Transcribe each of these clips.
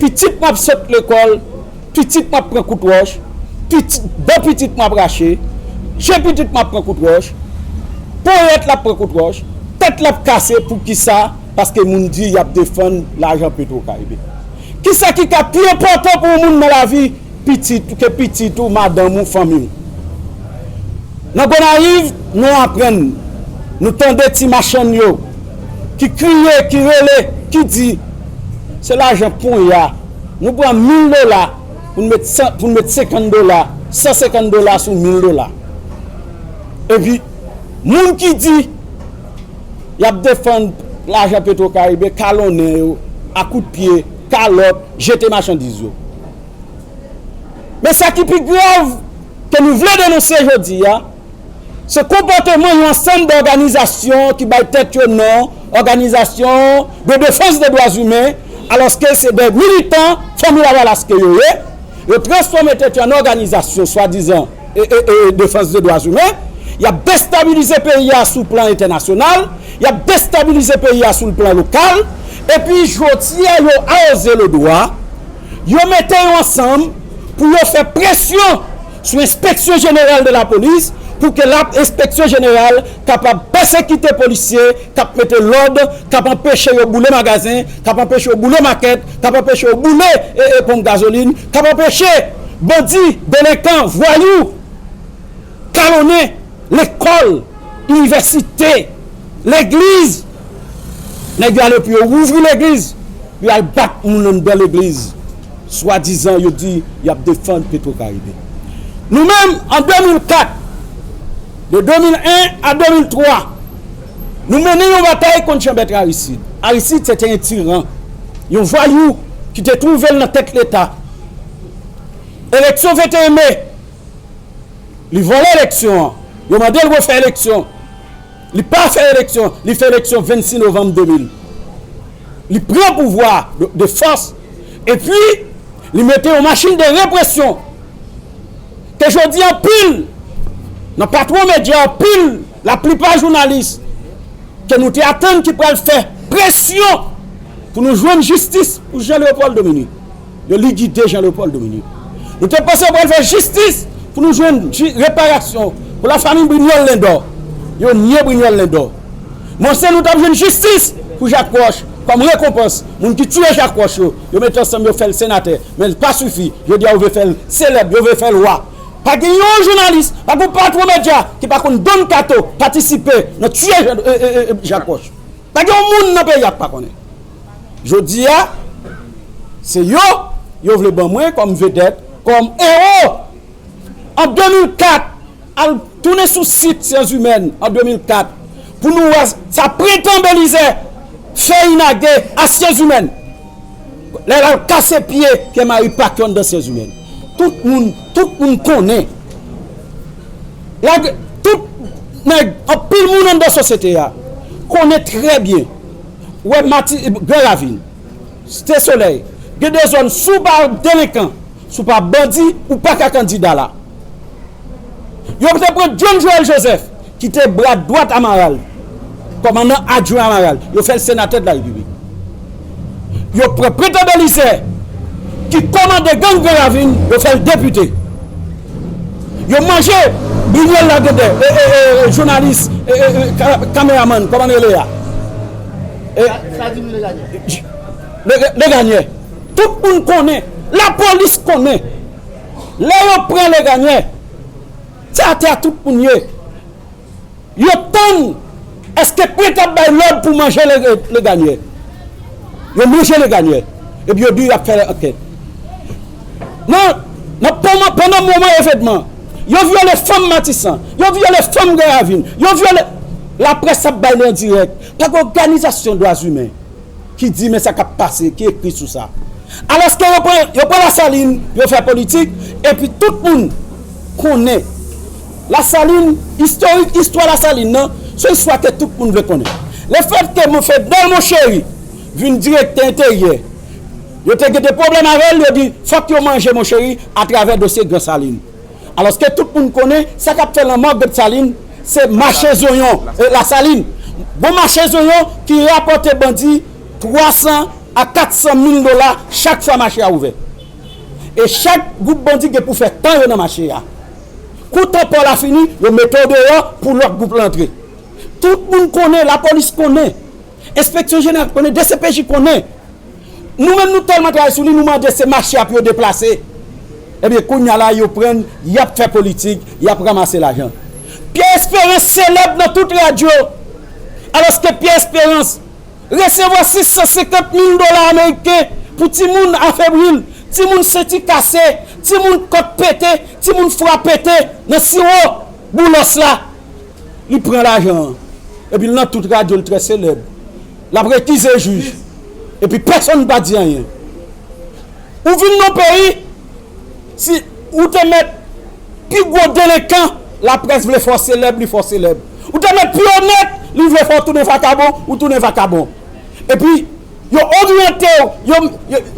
Pitit mwen ap sot lekòl, pitit mwen ap pran kout wòch, dan pitit mwen ap rache, je pitit mwen ap pran kout wòch, ponyèt la ap pran kout wòch, tèt la ap kase pou kisa paske moun di yap defann lajan petro karibe. Kisa ki ka pi enpòtan pou yon moun nan lavi Pitit ou, ke pitit ou, madanm ou, fanmi w. Nan Gonayiv, nou aprann, nou tande ti machann yo ki kriye, ki rele, ki di, Se lajan ponya, nou pran mil dola pou n met san, pou n met senkant dola, san senkant dola sou mil dola. Epi, moun ki di y ap defann lajan Petwokaribe kalonnen yo a kout pye, kalòt, jete machandiz yo. Men sa ki pi grav ke nou vle denonse jodi a, se konpòteman yon ansanm dòganizasyon ki bay tèt yo non òganizasyon de defans de dwa zimen, alòske se de militan Fanmi Lavalas ke yo ye, yo transfòme tèt yo an òganizasyon swadizan defans de dwa zimen, y ap destabilize peyi a sou plan entènasyonal, y ap destabilize peyi a sou plan lokal, epi jodi a yo awoze le dwa. Yo mete yo ansanm pou yo fè presyon sou enspeksyon jeneral de lapolis pou ke lap enspeksyon jeneral kapab pèsekite polisye kap mete lòd, kap anpeche yo boule magazen, kap anpeche yo boule makèt, kap anpeche yo boule ponp gazolin, kap anpeche bandi, delenkan, vwayou. Kalonnen lekòl, inivèsite, legliz. Nèg yo ale pou yo ouvri legliz, pou yo al bat moun anndan legliz, swadizan yo di y ap defann Petwokaribe. Nou menm, an 2004, de 2001 a 2003, nou mennen yon batay kont Janbèt Arisid. Arisid se te yon tiran, yon vwayou ki te twouve l nan tèt Leta. Eleksyon 21 me. Li vòlè eleksyon an. Yo mande l refè eleksyon. Li pa fè eleksyon. Li fè eleksyon 26 novanm 2000. Li pran pouvwa de fòs. E pi, li mete yon machin de represyon. Ke jodi anpil nan patwon medya, anpil, laplipa jounalis, ke nou te atann ki pral fè presyon pou nou jwenn jistis pou Jean Léopold Dominique. Yo likide Jean Leopold Dominique. Nou te panse yo pral fè jistis pou nou jwenn reparasyon pou lafanmi Brignol Lindor. Yo nye Brignol Lindor. M panse nou t ap jwenn jistis pou Jacques Roche kòm rekonpans moun ki tiye Jacques Roche yo. Yo mete ansanm yo fè l senatè. Men l pa sifi. Jodi a yo vle fè l selèb. Yo vle fè l wa. Pa gen yon jounalis, pa gen yon patwon medya ki pa konn Don Kato patisipe nan tiye Jacques Roche. Pa gen yon moun nan peyi a k pa konnen. Jodi a, se yo yo vle ban mwen kòm vedèt, kòm ewo. An 2004, al tounen sou sit Syanzimèn an 2004 pou nou wè sa Prentan Belizè fè Inage a Syanzimèn. Lè lap kase pye Pierre Marie pac yon danseuse ou menm tout moun tout moun konnen lage tout nèg anpil moun anndan sosyete a konnen trè byen ou wè mati gran ravin site solèy gen de zòn sou bar delenkan Si w pa bandi, ou pa ka kandida la. Yo te pran John Joel Joseph, ki te bra dwat Amaral, kòmandan adjwen Amaral, yo fè l senatè de la Repiblik. Yo pran Pretan Belizaire, ki kòmande gang Gran Ravin, yo fè l depite. Yo manje Brignol Lagedè, jounalis, kameramann, kòman l rele a? Sa di m Leganyè. Leganyè. Tout moun konnen, la polis konnen, lè yo pran Legagne, se atè a tout moun ye. Yo tann èske prent ap bay lòd pou manje Legagne. Yo manje Legagne, epi yo di y ap fè ankèt. Nan pandan moman evènman, yo vyole fanm Matisan, yo vyole fanm Gran Ravin, yo vyole. Laprès ap bay li an dirèk, pa gen òganizasyon dwazimen. ki di men sa k ap pase, ki ekri sou sa. Alòske yo pran, yo pran Lasalin, yo fè politik, epi tout moun konnen Lasalin, istorik istwa Lasalin nan, se yon istwa ke tout moun vle konnen. Le fèt ke Mon Fednel Monchéry vin direktè enteryè, yo te gen de pwoblèm avè l, yo di fòk yo manje Monchéry atravè dosye Gran Salin. Alòske tout moun konnen sa k ap fè lanmò Gotsalin se mache zonyon, Lasalin. Gwo mache zonyon ki rapòte bandi 300 a 400 mil dola chak fwa mache a ouvè. E chak gwoup bandi gen pou fè tan yo nan mache a. Kou tan pò la fini, yo mete w deyò pou lòt gwoup lan antre. Tout moun konnen, lapolis konnen. Enspeksyon jeneral konnen, dcpj konnen. Nou menm nou tèlman travay sou li nou mande se mache a pou yo deplase. Ebyen kounya la yo pran yap fè politik, yap ramase lajan. Pyè Esperans selèb nan tout radyo alòske Pyè Esperans resevwa 650 mil dola ameriken pou timoun afebri, timoun senti kase, timoun kòt pete, timoun fwa pete nan siwo Boulos la. Li pran lajan an epi l nan tout radyo l trè selèb l ap rekize jij epi pèsonn pa di anyen ou vin nan peyi si ou te mèt pi gwo delenkan laprès vle fè w selèb li fè w selèb ou te mèt pi onèt li vle fè w tounen vakabon ou tounen vakabon epi yo oryante w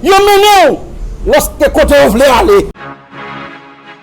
yo mennen w lòske kote yo vle ale.